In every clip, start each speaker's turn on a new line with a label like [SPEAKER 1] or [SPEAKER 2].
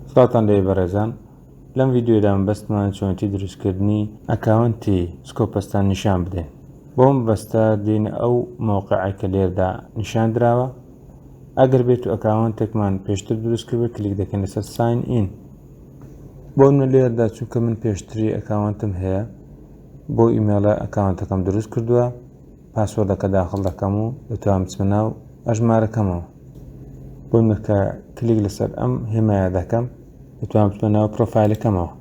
[SPEAKER 1] سڵاوتان لێبێ بەڕێزان لەم ڤیدیۆدا مەبەستمان چۆنێتی دروستکردنی ئەکاونتی سکۆپەستان نیشان بدەین بۆ مەبەستە دێینە ئەو مەوقعە کە لێردا نیشان دراوە ئەگەر بێت و ئەکاونتێکمان پێشتر دروستکرد کلیک دەکەین لەسەر ساین ئین بۆ منە لێردا چونکە من پێشتری ئەکاونتم هەیە بۆ ئیمێڵە ئەکاونتەکەم دروست کردووە پاسۆردەکە داخڵ دەکەم و دەتوانم بچمە ناو ئەژمارەکەمەوە بۆی مرکە کلیک لەسەر ئەم هێمایە دەکەم دەتوانم بچمە ناو پرۆفایلەکەمەوە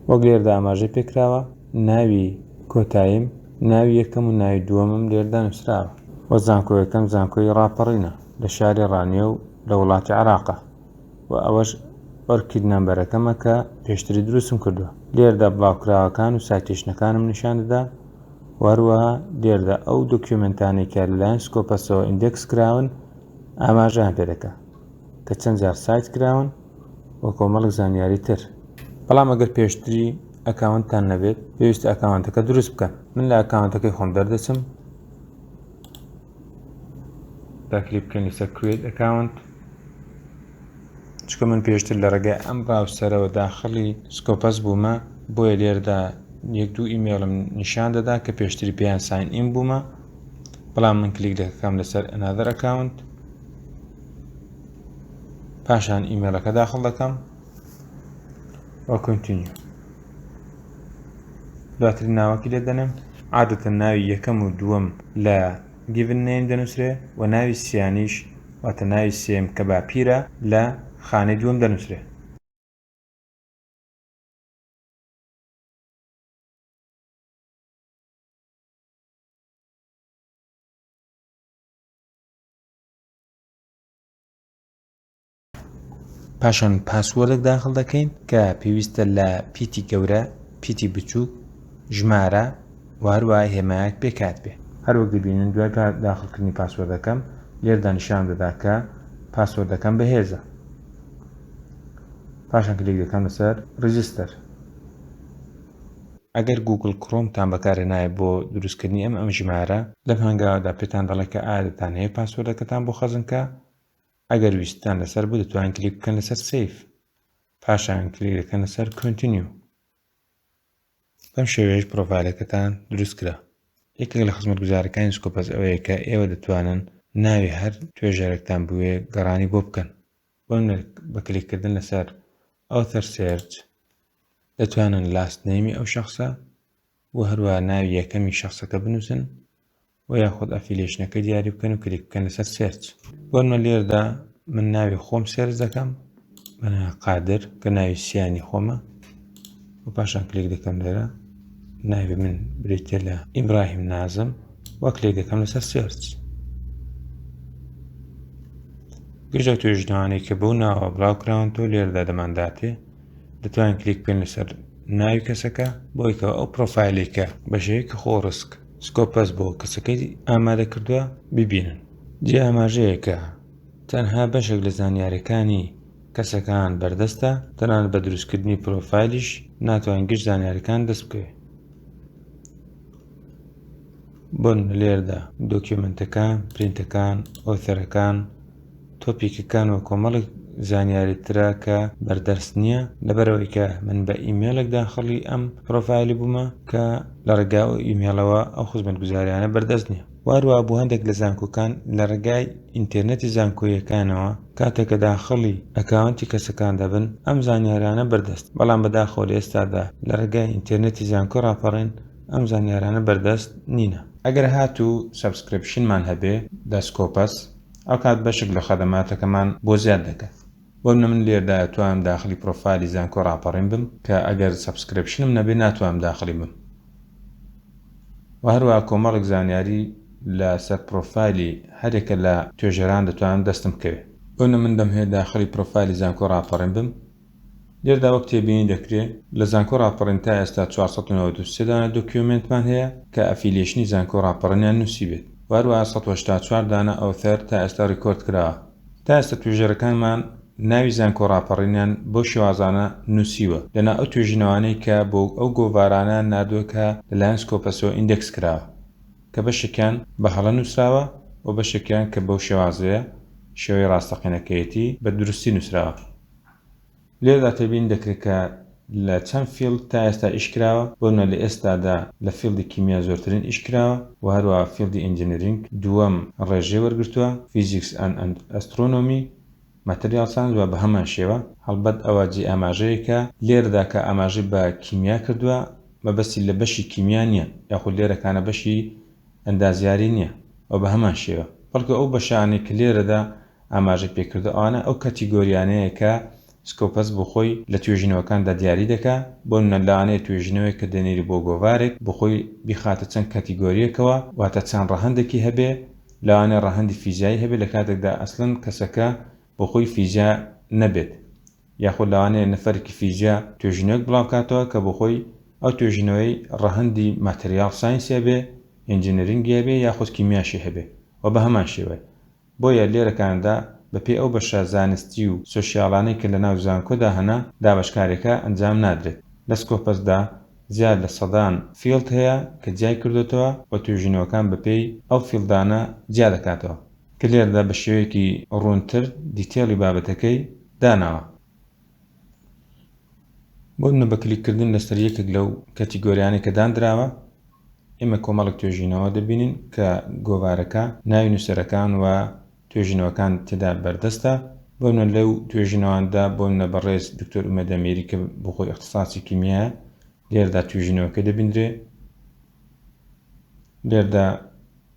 [SPEAKER 1] وەک لێردا ئاماژەی پێکراوە ناوی کۆتاییم ناوی یەکەم و ناوی دووەمم لێردا نووسراوە وە زانکۆیەکەم زانکۆی ڕاپەڕینە لە شاری ڕانیە و لە وڵاتی عراقە و ئەوەش ئۆرکید نەمبەرەکەمە کە پێشتری دروستم کردووە لێردا بڵاوکراوەکان و ساتێشنەکانم نیشان دەدا وەروەها لێردا ئەو دۆکیومنتانەی کە لەلایەن سکۆپەسەوە ئیندێکس کراون ئاماژیان پێ دەکە کە چەند جار سایت کراون و کۆمەڵک زانیاری تر بەڵام ئەگەر پێشتری ئەکاونتان نەبێت پێویست ئەکاونتەکە دروست بکەن من لە ئەکاونتەکەی خۆم دەردەچم با کلیک بکەین لەسەر کوێت ئەکاونت چکە من پێشتر لە ڕێگای ئەم ڕاوسەرەوە داخلی سکۆپەس بوومە بۆیە لێردا یەک دوو ئیمێڵم نیشان دەدا کە پێشتری پێیان ساین ئیم بوومە بەڵام من کلیک دەکەم لەسەر ئەنادر ئەکاونت پاشان ئیمێلەکە داخڵ دەکەم وە کنتینیو دواتر ناوەکی لێ دەنێم عادەتە ناوی یەکەم و دووەم لە گیڤن نیم دەنووسرێ و ناوی سیانیش واتە ناوی سێم کە باپیرە لە خانەی دووەم دەنووسرێ پاشان پاسوەردێک داخل دەکەین کە پێویستە لە پیتی گەورە پیتی بچووک ژمارە وهروە هێمایەک پێکات بێ هەروەک دەبینن دوای داخلکردنی پاسوەردەکەم لێردا نیشان دەدا کە پاسوەردەکەم بەهێزە پاشان کلێک دەکەم لەسەر ڕجستەر ئەگەر گوگل کڕۆمتان بەکارێنایە بۆ دروستکردنی ئەم ئەم ژمارە لەم هەنگاودا پێتان دەڵێت کە ئادتان هەیە پاسوەردەکەتان بۆ خەزنکە ئەگەر ویستتان لەسەر بوو دەتوانین کلیک بکەن لەسەر سیف پاشان کلیک دەکەن لەسەر کۆنتینیو بەم شێوەیەش پرۆفایلەکەتان دروست کرا یەکێک لە خزمەت گوزارەکانی سکۆپەس ئەوەیە کە ئێوە دەتوانن ناوی هەر توێژەرێکتان بوێ گەڕانی بۆ بکەن بۆ بە کلیککردن لەسەر ئەو تەر سێرچ دەتوانن لاست نەیمی ئەو شخصە و هەروە ناوی یەکەمی شخصەکە بنووسن وە یاخود ئەفیلەیشنەکەی دیاری بکەن و کلیک بکەن لەسەر سێرچ بۆنمە لێردا من ناوی خۆم سێرچ دەکەم بەنا قادر کە ناوی سیانی خۆمە و پاشان کلیک دەکەم لێرە ناوی من بریتە لە ئیبراهیم نازم وەک لێ دەکەم لەسەر سێرچ گژە توێژنەوانەی کە بەو ناوە بڵاوکراون تۆ لێردا دەمانداتێ دەتوان کلیک پێن لەسەر ناوی کەسەکە بۆیکەوە ئەو پرۆفایلێکە بەشەیەکی خۆڕسک سکۆپەس بۆ کەسەکەی ئامادە کردووە ببینن. جێی ئاماژەیە کە تەنها بەشێک لە زانیاریەکانی کەسەکان بەردەستە، تەنانەت بە دروستکردنی پرۆفایلیش ناتوانین گشت زانیاریەکان دەست بکەوێت. بۆن لێردا دۆکیۆمنتەکان، پرینتەکان، ئۆثەرەکان، تۆپیکەکان و کۆمەڵێک زانیاری ترە کە بەر دەرس نییە لەبەرئەوەی کە من بە ئیمێلێک داخڵی ئەم پڕۆفایلی بوومە کە لە ڕێگا و ئیمێلەوە ئەو خزمەتگوزاریانە بەردەست نییە واروە بۆ هەندێک لە زانکۆکان لە ڕێگای ئینتێرنێتی زانکۆییەکانەوە کاتێک کە داخڵی ئەکاونتی کەسەکان دەبن ئەم زانیارانە بەردەست بەڵام بەداخەوە لە ئێستادا لە ڕێگای ئینتێرنێتی زانکۆی ڕاپەڕین ئەم زانیارانە بەردەست نینە. ئەگەر هاتوو سەبسکرێپشنمان هەبێ دەسکۆپەس ئەوکات بەشک لە خەدەماتەکەمان بۆ زیاد دەکەن بۆ منە من لێردا ئەتوانم داخلی پرۆفایلی زانکۆ ڕاپەڕین بم کە ئەگەر سەبسکرێپشنم نەبێ ناتوانم داخلی بم وە هەروە کۆمەڵک زانیاری لە سەر پرۆفایلی هەرێکە لە توێژەران دەتوانم دەستم بکەوێ بۆ منە من دەمهەوێ داخلی پرۆفایلی زانکۆ ڕاپەڕین بم لێردا وەک تێبینی دەکرێ لە زانکۆ ڕاپەڕین تا ئێستا چوار سەد و نەوەد و سێ دانە دۆکیۆمێنتمان هەیە کە ئەفیلیەشنی زانکۆ ڕاپەڕنیان نوسیبێت و هەروەها سەد و هەشتا و چوار دانە ئۆثەر تا ئێستا ڕیکۆرد کراوە تا ئێستا توێژەرەکانمان ناوی زانکۆ ڕاپەڕینیان بەو شێوازانە نوسیوە لەناو ئەو توێژینەوانەی کە بۆ ئەو گۆڤارانەیان ناردوە کە لە لایەن سکۆپەسەوە ئیندێکس کراوە کە بەشێکیان بە هەڵە نوسراوە و بەشێکیان کە بەو شێوازەیە شێوەی ڕاستەقینەکەیەتی بە دروستی نوسراوە. لێرەدا تێبینی دەکرێت کە لە چەند فیڵد تا ئێستا ئیش کراوە، بۆ نموونە لە ئێستادا لە فیڵدی کیمیا زۆرترین ئیش کراوە و هەروەها فیڵدی ئینجینیرینگ دووەم ڕێژەی وەرگرتووە، فیزیکس ئەند ئەسترۆنۆمی، ماتریاڵ ساینس و بەهەمان شێوە. هەڵبەت ئەوە جێی ئاماژەیەکە لێرەدا کە ئاماژەی بە کیمیا کردووە مەبەستی لە بەشی کیمیا نییە یاخود لێرەکانە بەشی ئەندازیاری نییە و بەهەمان شێوە، بەڵکو ئەو بەشانەی کە لێرەدا ئاماژەی پێکردەوە، ئەوانە ئەو کەتیگۆریانەیە کە سکۆپەس بۆ خۆی لە توێژینەوەکاندا دیاری دەکا، بۆ نمونە لەوانەیە توێژینەوەیەک کە دەنێری بۆ گۆڤارێک بۆ خۆی بیخاتە چەند کەتیگۆرییەکەوە، واتە چەند ڕەهەندێکی هەبێ، لەوانەیە ڕەهەندی فیزیایی هەبێ لە کاتێکدا ئەسڵەن کەسەکە بۆ خۆی فیزیا نەبێت، یاخود لەوانەیە نەفەرێکی فیزیا توێژینەوەیەک بڵاو کاتەوە کە بۆ خۆی ئەو توێژینەوەی ڕەهەندی ماتریاڵ ساینس هەبێ، ئینجینرینگی هەبێ یاخود کیمیاشی هەبێ و بە هەمان شێوە. بۆیە لێرە کانادا بە پێی ئەو بەشە زانستی و سۆشیالانەی کە لە ناو زانکۆدا هەنە دابەشکاریەکە ئەنجام نادرێت. لە سکۆپەس دا زیاد لە سەدان فیڵد هەیە کە جیای کردۆتەوە و توێژینەوەکان بە پێی ئەو فیڵدانە جیا دەکاتەوە کە لێرەدا بە شێوەیەکی ڕوونتر دیتێڵی بابەتەکەی داناوە. بۆنمونە بە کلیک کردن لەسەر یەکێک لەو کەتیگۆریانەی کە داندراوە ئێمە کۆمەڵک توێژینەوە دەبینین کە گۆوارەکە ناوی نووسەرەکان و توێژینەوەکان تێدا بەردەستە بۆنە لەو توێژینەواندا بۆنە بەڕێز دکتۆر ئومەدەمێری کە بخۆی اختصاصی کیمیە لێردا توێژینەوەکە دەبیندرێ لێردا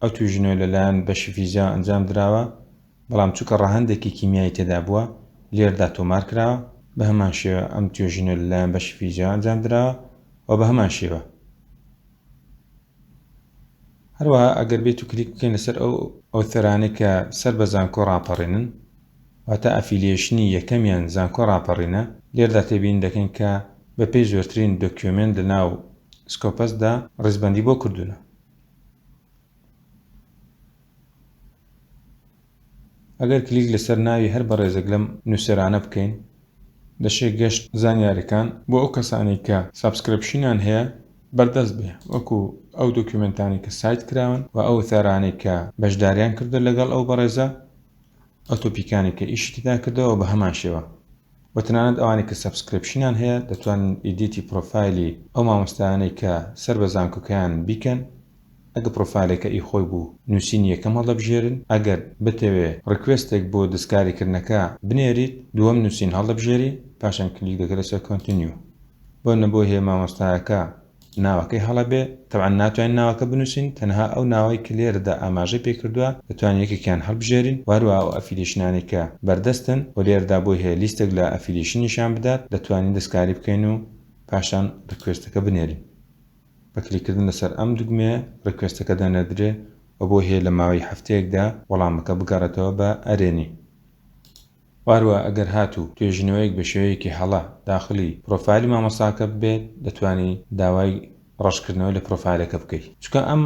[SPEAKER 1] ئەو توێژینەوە لەلایەن بەشی فیزیاوە ئەنجام دراوە، بەڵام چونکە ڕەهەندێکی کیمیایی تێدا بووە، لێردا تۆمار کراوە. بە هەمان شێوە ئەم توێژینەوە لەلایەن بەشی فیزیاوە ئەنجام دراوە و بە هەمان شێوە. هەروەها ئەگەر بێت و کلیک بکەین لەسەر ئەو ئۆثەرانەی کە سەر بە زانکۆ ڕاپەڕینن، واتە ئەفیلیەیشنی یەکەمیان زانکۆ ڕاپەڕینە، لێردا تێبینی دەکەین کە بەپێی زۆرترین دۆکیۆمێنت لەناو سکۆپەسدا ڕیزبەندی بۆ کردوونە. ئەگەر کلیک لەسەر ناوی هەر بەڕێزێک لەم نوسەرانە بکەین دەشێ گەشت زانیارەکان بۆ ئەو کەسانەی کە سابسکرپشنیان هەیە بەردەست بێ وەکو ئەو دۆکیومێنتانەی کە سایت کراون و ئەو وتارانەی کە بەشداریان کردوە لەگەڵ ئەو بەڕێزە ئەو تۆپیکانەی کە ئیشی تێدا کردەوە بە هەمان شێوە و تەنانەت ئەوانەی کە سەبسکرپشنیان هەیە دەتوانن ئیدیتی پڕۆفایلی ئەو مامۆستایانەی کە سەر بە زانکۆکەیانن بیکەن ئەگە پڕۆفایلەکە ئی خۆی بوو نوسینی یەکەم هەڵدەبژێرن ئەگەر بتەوێ ڕیکوێستێک بۆ دەستکاریکردنەکە بنێریت دووەم نوسین هەڵدەبژێری پاشان کلیک دەکەی لەسەر کۆنتنیو بۆ نمونە بۆ هەیە مامۆستایەکە ناوەکەی هەڵە بێ تەبعەن ناتوانین ناوەکە بنوسین تەنها ئەو ناوەی کە لێرەدا ئاماژەی پێ کردوە دەتوانین یەکێکیان هەڵبژێرین وە هەروەها ئەو ئەفیلیشنانەی کە بەردەستن و لێرەدا بۆی هەیە لیستێک لە ئەفیلیشن نیشان بدات دەتوانین دەستکاری بکەین و پاشان ڕیکوێستەکە بنێرین بە کلیک کردن لەسەر ئەم دوگمەیە ڕیکوێستەکە دەنێردرێ و بۆی هەیە لە ماوەی هەفتەیەکدا وەڵامەکە بگەڕێتەوە بە ئەرێنی. و هەروەها ئەگەر هاتوو توێژینەوەیەک بە شێوەیەکی هەڵە داخڵی پرۆفایلی مامۆستاکە ببێت دەتوانی داوای ڕەشکردنەوە لە پرۆفایلەکە بکەی چونکە ئەم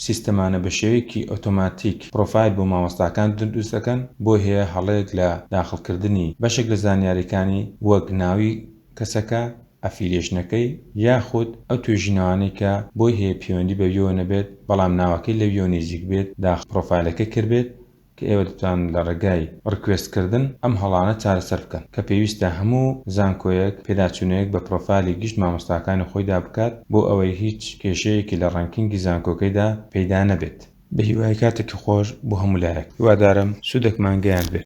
[SPEAKER 1] سیستەمانە بە شێوەیەکی ئۆتۆماتیک پرۆفایل بۆ مامۆستاکان دروست دەکەن بۆی هەیە هەڵەیەک لە داخڵکردنی بەشێک لە زانیاریەکانی وەک ناوی کەسەکە، ئەفیلێشنەکەی یاخود ئەو توێژینەوانەی کە بۆی هەیە پێوەندی بەویەوە نەبێت بەڵام ناوەکەی لەویەوە نیزیک بێت داخڵ پرۆفایلەکەی کردبێت، کە ئێوە دەتوانن لە ڕێگای ڕکوێست کردن ئەم هەڵانە چارەسەر بکەن، کە پێویستە هەموو زانکۆیەک پێداچوونەیەک بە پرۆفایلی گشت مامۆستاکانی خۆیدا بکات بۆ ئەوەی هیچ کێشەیەکی لە ڕانکینگی زانکۆکەیدا پەیدا نەبێت. بەهیوای کاتێکی خۆش بۆ هەموو لایەک. هیوادارم سوودێکمان گەیاندبێت.